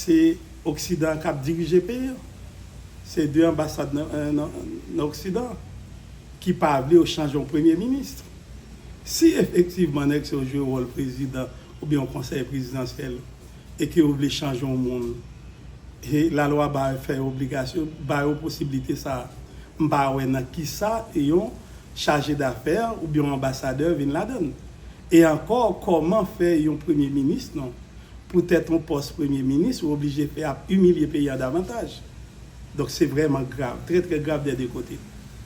Se oksidan an kap dirije peyi an. Se 2 anbasad nan oksidan ki pa vle yo chanje yon premye minis. Si efektivman nèg sa yo jwe wòl prezidan oubyen yon konsèy prezidansyèl e ke yo vle chanje yon moun, e lalwa ba yo fè obligasyon, ba yo posiblite sa a, m pa wè nan kisa yon chaje dafè oubyen yon anbasadè vin ladann. E ankò kòman fè yon premye minis non. Pou tèt yon pòs premye minis ou oblije fè ap imilye peyi a davantaj. Donk se vrèman grav, trè trè grav dè 2 kote.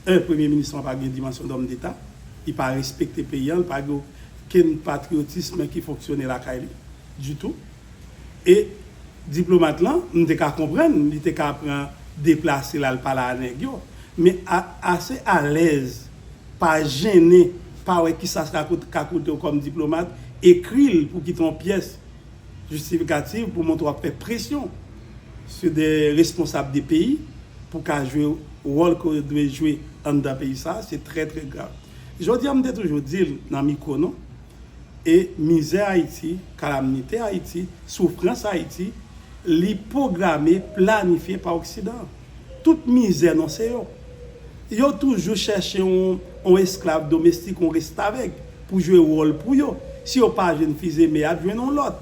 1 premye minis lan pa gen dimansyon dòm deta, li pa respekte peyi an, li pa gen okenn patriyotism ki fonksyone lakay li ditou. E diplomat lan, m te ka konprann li te ka pran deplase l al pale a nèg yo, men ase alèz Pa jennen pa wè kisa sa ka koute w kòm diplomat, ekri l pou ki te yon pyès jistifikativ pou montre w ap fè presyon sou de responsab de peyi pou ka jwe wòl ke w dwe jwe anndan peyi sa a, se trè trè grav. Jodi a m te toujou di l nan mikwo nou, e mizè Ayiti, kalamnite Ayiti, soufrans Ayiti, li pwograme, planifye pa oksidan. Tout mizè non se yo. Yo toujou chèche yon esklav domestik, yon restavèk pou jwe wòl pou yo. Si yo pa jwenn Fils-Aimé y ap jwenn yon lòt.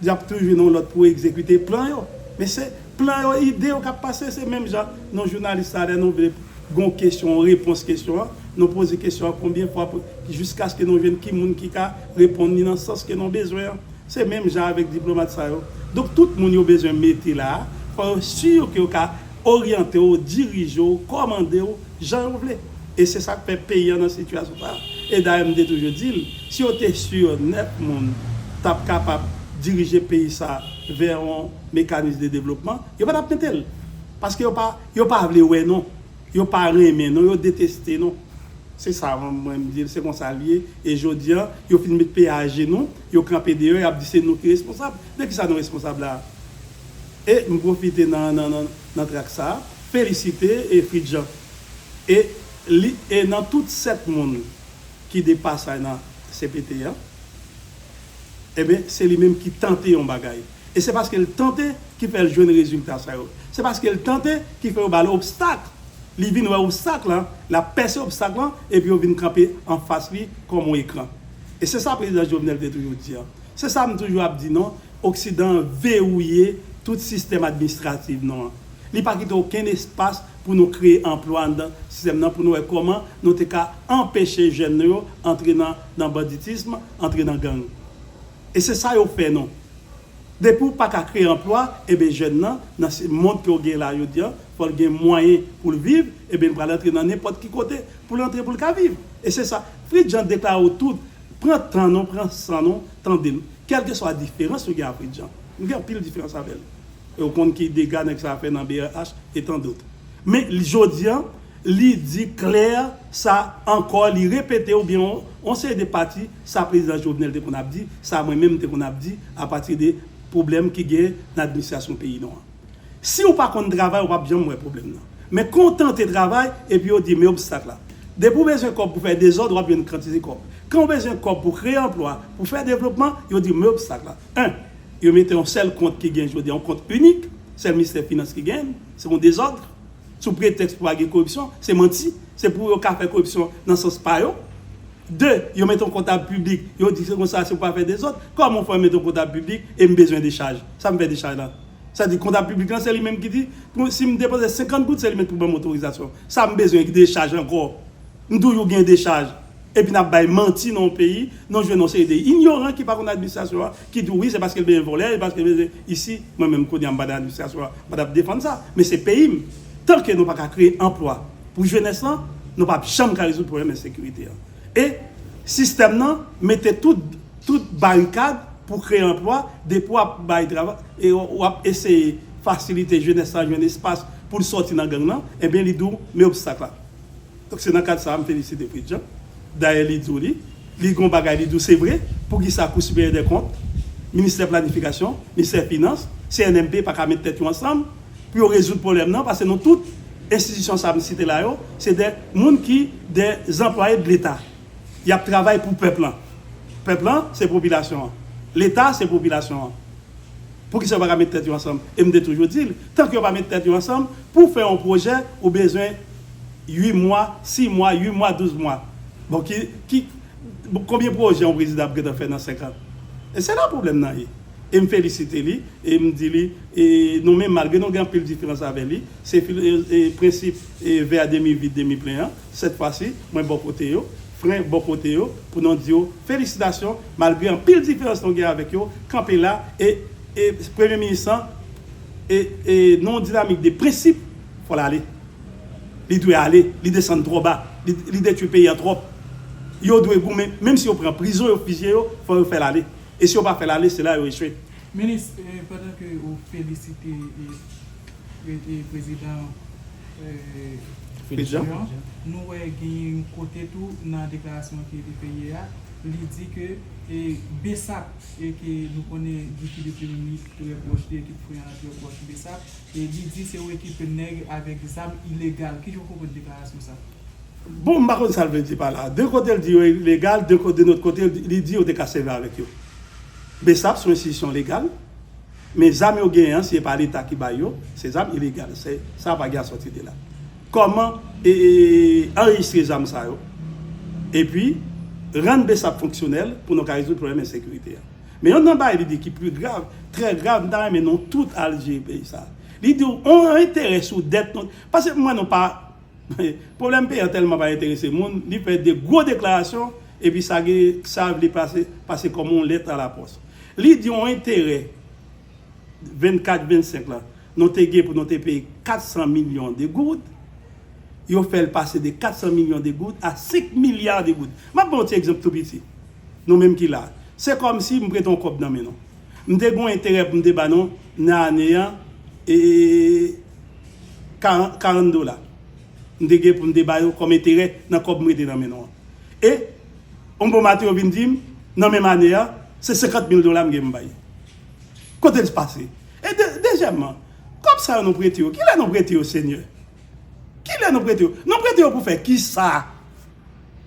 Y ap toujou jwenn yon lòt pou egzekite plan yo. Men se plan yo, ide yo k ap pase. Se menm jan nou jounalis la lè nou vle gen yon kesyon, yon repons kesyon an, nou poze kesyon an konbyen fwa pou jiskaske nou jwenn ki moun ki ka reponn li nan sans ke nou bezwen an. Se menm jan avèk diplomat sa yo. Donk tout moun yo bezwen mete la a, fò yo sur ke yo ka oryante w, dirije w, kòmande w jan yo vle. E se sa k fè peyi an nan sitiyasyon sa a. E dayè m te toujou di l, si yo te sur nèt moun t ap kapab dirije peyi sa a vè yon mekanis de devlopman, yo pa t ap mete l. Paske yo pa, yo pa vle wè non. Yo pa renmen non, yo deteste non. Se sa mwen m di l, se konsa l ye. E jodi an, yo fin met peyi a ajenou, Yo kanpe deyò yap di se nou ki responsab, de kisa nou responsab la? E m pwofite nan nan trak sa felisite e Fridjan e li e nan tout 7 moun ki de pasay nan cpt an enben se li menm ki tante yon bagay e se paske l tante ki fè l jwenn rezilta sa yo se paske l tante ki fè yo ba l obstak li vin wè obstak lan lap pèse obstak lan epi yo vin kanpe anfas li kòm yon ekran. E se sa prezidan Jovenel te toujou di an. Se sa m toujou ap di non, oksidan an verouye tout sistèm administrativ nou an. Li pa kite okenn espas pou nou kreye anplwa anndan sistèm nan pou nou wè kòman nou te ka anpeche jèn nou yo antre nan nan banditism, antre nan gang. E se sa yo fè nou. Depi w pa ka kreye anplwa, eben jèn nan, nan si mond ke w gen la jodi an, fò l gen mwayen pou l viv, eben l pral antre nan nenpòt ki kote pou l antre pou l ka viv. E se sa. Fridjan deklare w tout, pran tan nou, pran san nou tande m, kèlkeswa diferans nou gen a Fridjan. Nou gen anpil diferans avè l. Ou konn ki dega nèg sa a fè nan brh e tan dot. Men jodi an, li di klè sa ankò, li repete oubyen yon seri de pati sa Prezidan Jovenel te konn ap di, sa mwen menm m te konn ap di apati de pwoblèm ki gen nan administrasyon peyi nou an. Si ou pa konn travay ou pap janm wè pwoblèm nan. Men kon w tante travay epi yo di men obstak la. Depi w bezwen kòb pou fè dezòd wap jwenn kantite kòb. Kan w bezwen kòb pou kreye anplwa, pou fè devlopman, yo di men obstak la. 1, Yo mete yon sèl kont ki gen jodi a, yon kont inik, sèl ministè finans ki gen l, se yon dezòd, sou pretèks pou pa gen koripsyon, se manti, se pou yo ka fè koripsyon nan sans pa yo. 2, Yo mete yon kontab piblik, yo di se konsa se pou pa fè dezòd. Kòman w fè mete yon kontab piblik e m bezwen dechaj? Sa m fè dechaj la? Sa di kontab piblik lan se li menm ki di pou si m depoze 50 goud se li menm ki pou ban m otorizasyon. Sa m bezwen ki dechaj ankò? M toujou gen dechaj. Epi n ap bay manti nan yon peyi, n ap jwenn yon seri de inyoran ki pa konn administrasyon an ki di w wi se paske l bezwen vòlè, e paske l bezwen isi. Mwen menm kounye a m pa nan administrasyon an, m pa ta p defann sa. Men se peyi m. Tan ke nou pa ka kreye anplwa pou jenès lan, nou pa p janm ka rezoud pwoblèm ensekirite an. E sistèm nan mete tout. Tout barikad pou kreye anplwa, depi w ap bay travay e w ap eseye fasilite jenès la jwenn espas pou l sòti nan gang lan, enben li di w men obstak la. Donk se nan kad sa a m felisite Prejean. Dayè li di w li, li gen yon bagay li di w se vre, poukisa Kou Siperyè dè Kont, Ministè Planifikasyon, Ministè Finans, CNMP pa ka met tèt yo ansanm pou yo rezoud pwoblèm nan paske nou tout enstitisyon sa a m site la yo se dè moun ki dè zanplwaye dleta. Yap travay pou pèp lan. Pèp lan se popilasyon an. Leta se popilasyon an. Poukisa yo pa ka met tèt yo ansanm? E m te toujou di l, tank yo pa met tèt yo ansanm, pou w fè yon pwojè, ou bezwen 8 mwa, 6 mwa, 8 mwa, 12 mwa. Bon ki, ki, konbyen pwojè yon prezidan ap gentan fè nan 5 an? E se la pwoblèm nan ye. E m felisite li, e m di li, e nou menm malgre nou gen anpil diferans avè li, se fil, e prensip, e vè a demi vid, demi plen an, Sèt fwa si mwen bò kote yo, frè bò kote yo pou non di yo felisitasyon malgre anpil diferans nou gen avèk yo kanpe la e e premye minis lan e e nan yon dinamik de prensip fòl ale li dwe ale li desann twò ba li li detwi peyi an twòp yo dwe goumen menm si yo pran prizon yo fizye yo fò yo fèl ale e si yo pa fèl ale se la yo echwe. Minis, pandan ke ou felisite e e prezidan. Fedjan, nou wè genyen yon kote tou nan deklarasyon ke li te ye a, li di ke Bsap e ke nou konnen Guiky depi yon minit trè pwòch li, ekip Frè an lan trè pwòch Bsap, e li di se yon ekip nèg avèk zam ilegal. Kijan w konprann deklarasyon sa? Bon, m pa konn sa l vle di pa la. De kote l di yo ilegal, de nòt kote li di yo te ka sèvi avèk yo. Bsap se yon enstitisyon legal. Men zam yo genyen an si epa leta ki bay yo se zam ilegal se sa vag ya soti de la koman anrejistre zam sa yo epi rann bsap fonksyonel pou nou ka rezoud pwoblem ensekirite a men yon nan bagay li di ki pli grav trè grav m ta renmen nou tout al jere peyi sa li diw on enterè sou dèt nou paske m wè nou pa Pwoblèm peyi a tèlman pa enterese moun, li pè de gwo deklarasyon epi sa gen sa vle pase pase kòm yon lèt alapòs. Li di yon enterè 24, 25 la nou te gen pou nou te peye 400 milyon de goud, yo fè l pase de 400 milyon de goud a 5 milya de goud. M ap ban yon ti egzanp tou piti, nou menm ki la a. Se kòm si m prete yon kòb nan men nou. M te gen yon enterè pou m te ba nou nan ane an e 40 dola m te gen pou m te ba yo kòm enterè nan kòb m rete nan men nou an. E yon bon maten yo vin di m nan menm ane a se 50 mil dola m gen pou m bay. Kote l pase? E dezyèmman, kòb sa yo nou prete yo, kilè nou prete yo Senyè? Kilè nou prete yo? Nou prete yo pou fè kisa?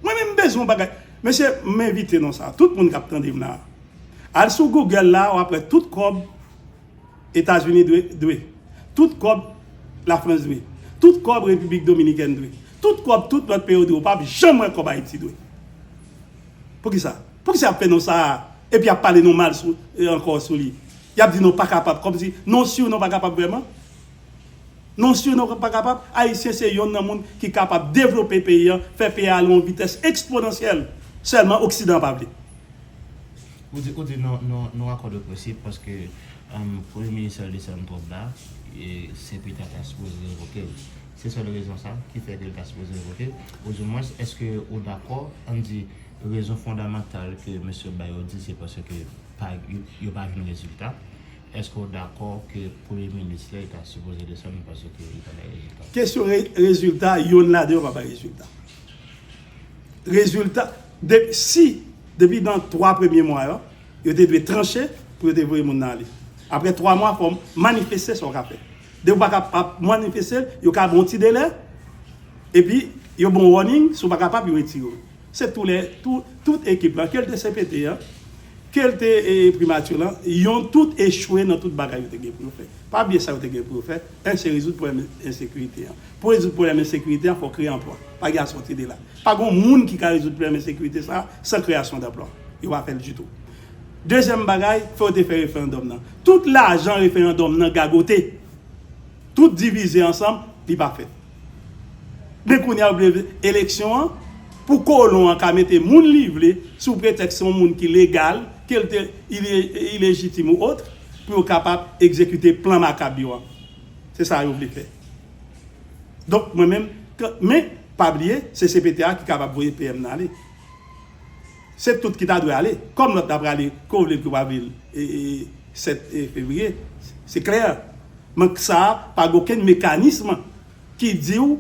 Mwen menm m bezwen yon bagay. Mesye, m envite nou sa, tout moun k ap tande m la a, Al sou Google la wap wè tout kòb Etazini dwe, tout kòb Lafrans dwe, tout kòb Repiblik Dominikèn dwe, tout kòb tout lòt peyo dwe ou pap janm wè kòb Ayiti dwe. Poukisa? Poukisa yap fè non sa a epi yap pale non mal ankò sou li? Yap di non pa kapab kòmsi non siw non pa kapab vrèman? Non syon nou pa kapab, Ayisyen se yonn nan moun ki kapab devlope peyi an, fè peyi a ale yon vitès eksponansyèl, sèlman oksidan pa vle. Ou di ou di nou nou akò de prensip paske premye minis Charles desann twòp la e Sepita ta sipoze revoke l. Se sèl rezon sa ki fè ke l ta sipoze revoke l? Ou di mwens eske ou dakò ann di rezon fondamantal ke mesye bay yo di se paske pa yo pa jwenn rezilta? Eske w dakò ke premye minis la ta sipoze desann paske li pa bay rezilta? Kesyon rezilta, yonn ladan yo pa bay rezilta. Rezilta, si depi nan 3 premye mwa yo, yo te dwe tranche pou yo te voye moun nan ale. Aprè 3 mwa fò w manifeste sa w ka fè. Depi w pa ka ap manifeste, yo ka ban w ti delè, epi yo ban w warning, si w pa kapab yo retire w. Se tou lè, tout ekip lan, ke l te cpt an, ke l te primature lan, yon tout echwe nan tout bagay yo te gen pou yo fè. Pa bliye sa yo te gen pou yo fè, 1 se rezoud pwoblèm ensekirite an. Pou rezoud pwoblèm ensekirite an, fò w kreye anplwa. Pa gen asòti de la. Pa gen yon moun ki ka rezoud pwoblèm ensekirite sa a san kreyasyon danplwa. Yo pa fè l ditou. Dezyèm bagay, fò yo te fè referandòm nan. Tout lajan referandòm nan gagote, tout divize ansanm, li pa fèt. Men kounya ou vle eleksyon an pou kolon an ka mete moun li vle sou pretèks se yon moun ki legal, ke l te ilejitim ou otre, pou yo kapab egzekite plan makab yo an. Se sa yo vle fè. Donk mwen menm, men pa bliye se cpt a ki kapab voye PM nan ale. Se tout ki ta dwe ale. Kòm lòt ta prale, ke w vle l ke w pa vle l, 7 fevriye, se klè. Men k sa a, pa gen okenn mekanism ki di w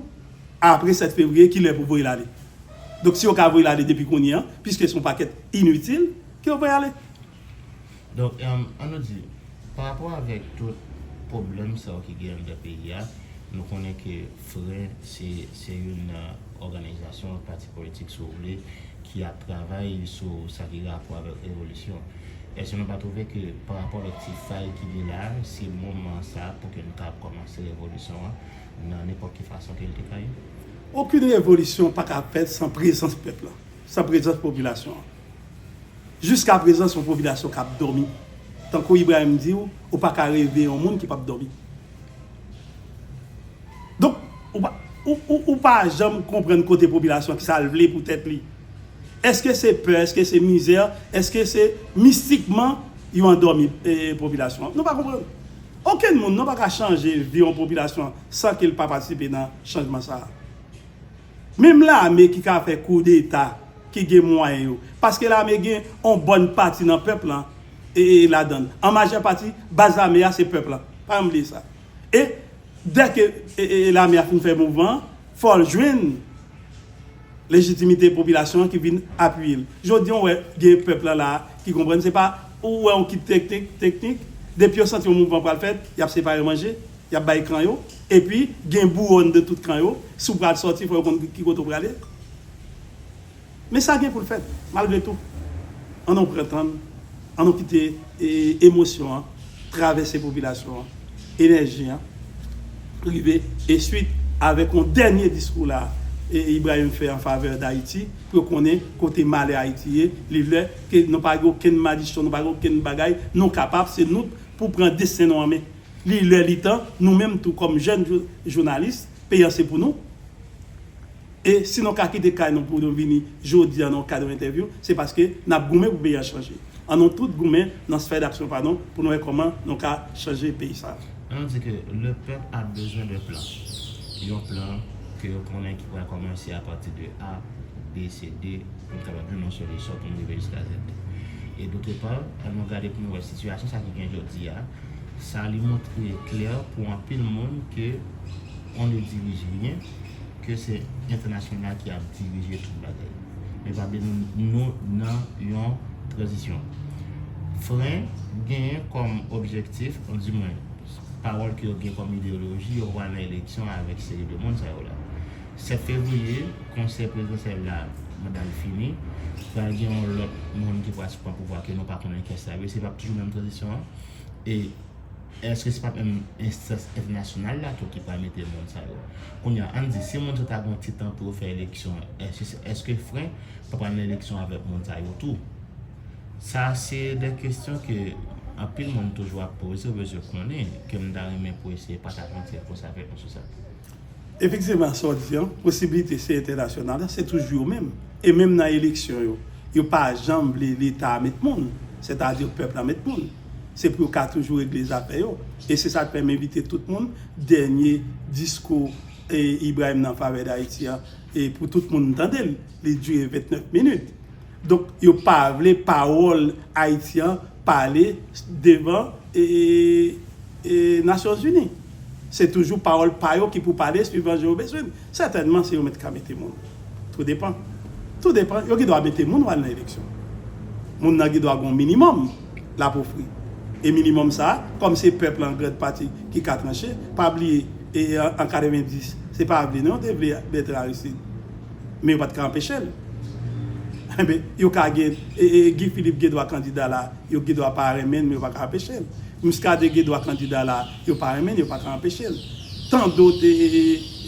apre 7 fevriye ki lè pou w voye l ale. Donk si yo ka voye l ale depi kounye an, piske se yon pakèt initil, ke yo voye ale. Donk, an nou di, pa rapò avèk tout pwoblèm sa yo ki gen anndan peyi a, nou konnen ke fren se youn nan òganizasyon, pati politik si w vle, ki ap travay sou sa ki gen rapò avèk revolisyon. Èske nou pa twouve ke pa rapò avèk ti fay ki gen la a, se moman sa a pou ke nou ta ap kòmanse revolisyon an nan nenpòt ki fason ke li te ka ye? Okenn revolisyon pa ka fèt san prezans pèp la, san prezans popilasyon an. Jiska prezan son popilasyon kap dòmi tankou Ibrahim diw ou paka reve yon moun ki pap dòmi donk ou pa janm konprann kote popilasyon ki sal vle pou tèt li eske se pè eske se mizè eske se mistikman yo andòmi popilasyon an nou pa konprann okenn moun non paka chanje vi yon popilasyon san kel pa patisipe nan chanjman sa. Menm lame ki ka fè kou deta ki gen mwayen yo paske lame gen yon bòn pati nan pèp lan ladan l an majè pati baz lame a se pèp la pa janm bliye sa e dè ke lame a fin fè mouvman an fò l jwenn lejitimite popilasyon an ki vin apiye l jodi an ou wè gen pèp lan la ki konprann se pa ou wè yon kit teknik depi yo santi yon mouvman pral fèt y ap separe manje. Y ap bay kan yo. Epi, gen bouwòn de tout kan yo. Si w pral sòti, fò yo konn ki kote w prale. Men sa gen pou l fèt, malgre tou. An nou pran tan n. An nou kite emosyon an travèse popilasyon an. Enèji an rive. Ensuit, avèk yon dènye diskou la a, Ibrahim fè an favè Dayiti, pou yo konnen kote malè Ayiti ye. Li lè ke nou pa gen okenn madichon, nou pa gen okenn bagay. Nou kapab, se nou pou pran desten nou an men. Li lè li tan, nou menm tou kòm jèn jounalis, peyi an se pou nou. E si nou ka kite kay nou pou nou vini jodi an nan kad yon entèvyou, se paske n ap goumen pou peyi an chanje. An nou tout goumen nan sfè daksyon pa nou pou nou wè kòman nou ka chanje peyi sa a. An nou di ke le pèp a bezwen de plan. Yon plan ke yo konnen ki pral kòmanse a pati de A, B, C, D pou n kapab jwenn yon solisyon pou n rive jiska Z. E dotre pa, an nou gade pou nou wè sitiyasyon sa ki gen jodi a. Sa li montre klè pou anpil moun ke on ne dirige rien, ke se entènasyonal ki ap dirije tout bagay. Men pa bliye nou nan yon tranzisyon. Fren genyen kòm objektif, di mwen, pawòl ke yo gen kòm ideyoloji, yo pral nan eleksyon avèk seri de moun sa yo la. 7 fevriye, konsè prezidansyèl la manda l fini. Pral gen yon lòt moun ki pral sou pouvwa ke nou pa konnen kiyès sa ap ye. Se pap toujou menm tranzisyon an. E èske se pap menm enstans entènasyonal la tou ki pral mete moun sa yo? Kounye a, ann di, si moun sa yo ta gen yon ti tan pou yo fè eleksyon, èske fren pa pral nan eleksyon avèk moun sa yo tou? Sa se de kesyon ke anpil moun toujou ap poze, yo bezwen konnen, ke m ta renmen pou eseye pataje yon ti enfo sa avèk nou sou sa. Efektivman sa w di an, posibilite se entènasyonal la, se toujou yo menm. E menm nan eleksyon yo, yo pa janm vle leta a met moun, sètadi pèp la met moun. Se pou yo ka toujou regle zafè yo. E se sa k fè m envite tout moun, dènye diskou Ibrahim nan favè Dayiti an, pou tout moun tande l, li dire 29 minit. Donk yo pa vle pawòl Ayiti an pale devan Nasyon Zini. Se toujou pawòl pa yo ki pou pale swivan je yo bezwenn. Sètènman se yo menm ki ka mete moun. Tou depan. Tou depan. Yo gen dwa mete moun ou al nan eleksyon. Moun nan gen dwa gen yon minimòm l ap ofri. E minimòm sa a, kòm se pèp la an grand pati ki ka tranche, pa bliye an 90 se pa vle non yo te vle Mèt Aristide. men yo pat ka anpeche l. Enben, yo ka gen, Guy Philippe gen dwa kandida la, yo gen dwa pa renmen l men yo pa ka anpeche l. Muscadin gen dwa kandida la, yo pa renmen l, yo pa ka anpeche l. Tant d'autres,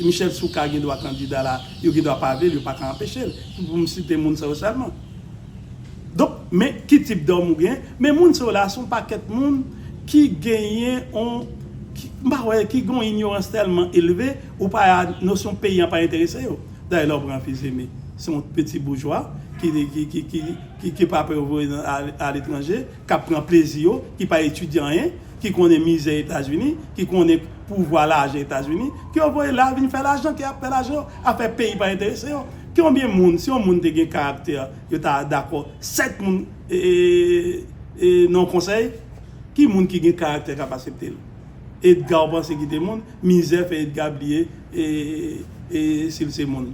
Michel Soukar gen dwa kandida la, yo gen dwa pa vle l, yo pa ka anpeche l. Se pou m site moun sa yo sèlman. Donk, men ki tip dòm ou gen, men moun sa yo la se yon pakèt moun ki genyen yon, m pa wè, ki gen yon inyorans tèlman elve Ou pa ya nosyon peyi an pa enterese yo dayè lè w pran Fils-Aimé se yon peti boujwa ki pa pè voye nan aletranje k ap pran plezi yo ki pa etidye anyen ki konnen mizè etazini ki konnen pouvwa lajan etazini ke yo voye la vin fè lajan ke y ap fè lajan yo afè peyi pa enterese yo konbyen moun si yon moun te gen karaktè yo ta dakò 7 moun nan yon konsèy ki moun ki gen karaktè k ap asepte l. Edga ou panse ki te moun, mizè fè Edga bliye sil se moun.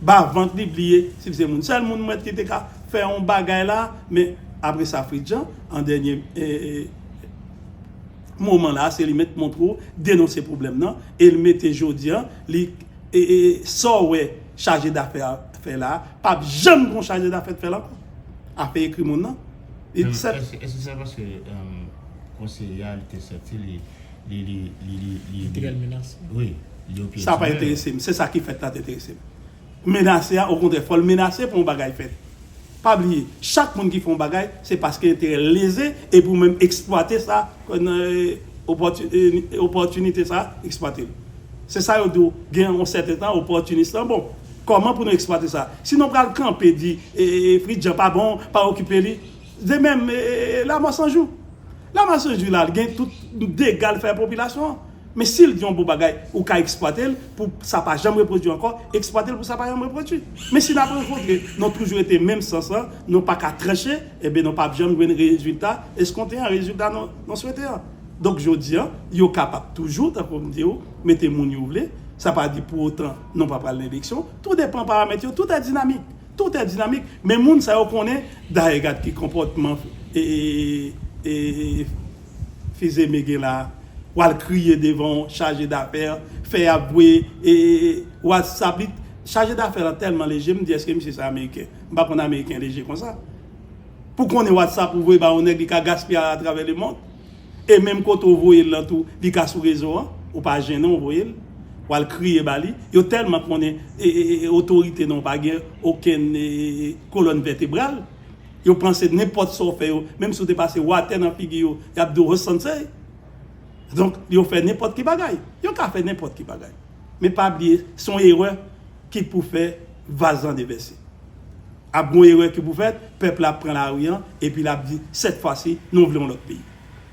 Ba vant li bliye sil se moun. Sèl moun mwè ki te ka fè yon bagay la, men apresa Fritjan an dènye moman la se li mèt montre ou denonse pwoblèm nan e li mete jodi an li sa ou wè chaje dafè a fè la pap janm gon chaje dafè t fè l ankò. Afè ekri moun nan Èske se paske konseye a li te santi li yo pyetine l? Sa pa enterese m, se sa ki fèt la te enterese m. Menase a, okontrè fò l menase pou yon bagay fèt. Pa bliye, chak moun ki fè yon bagay se paske enterè l leze epi ou menm eksplwate sa Pran opòtinite sa a, eksplwate l. Se sa yo di w, gen yon sèten tan opòtinis lan bon. Kòman pou nou eksplwate sa? Si nou pral kanpe di Fritjan pa bon, pa okipe li, de menm Lamò 100 jou. Lamò 100 jou la, l gen tout dega l fè popilasyon an. Men si l gen yon bon bagay, ou ka eksplwate l pou sa pa janm repwodui ankò, eksplwate l pou sa pa janm repwodui. Men si n ap rankontre nan toujou rete menm sans lan, nou pa ka tranche, enben nou p ap janm jwenn rezilta eskonte an, rezilta nou swete an. Donk jodi an, yo kapab toujou, tankou m di ou, mete moun yo vle, sa pa di pou otan nou pa pral nan eleksyon, tou depan paramèt yo, tout è dinamik, tout è dinamik, men moun sa yo konnen, dayè gad ki konpòtman e. Fizeme gen la wal kriye devan yon chaje dafè fè yap voye whatsapp li chaje dafè lan tèlman leje mdi eske misye sa ameriken mpa konn ameriken leje konsa pou konnen whatsapp ou voye ba yon nèg li ka gaspiye al atravè lemond e menm kote ou voyel lan tou li ka sou rezo an ou pa jennen ou voyel wal kriye ba li yo tèlman konnen otorite nou pa gen okenn kolòn vètebral. Yo panse nenpòt sa w fè yo, menm si w te pase watè nan figi yo, y ap di w hsnsey. Donk, yo fè nenpòt ki bagay. Yo ka fè nenpòt ki bagay. Men pa bliye, se yon erè ki t pou fè vaz lan devèse. Ap gen yon erè ki pou fèt, pèp la ap pran lari an, epi l ap di, sètfwasi, nou vle yon lòt peyi.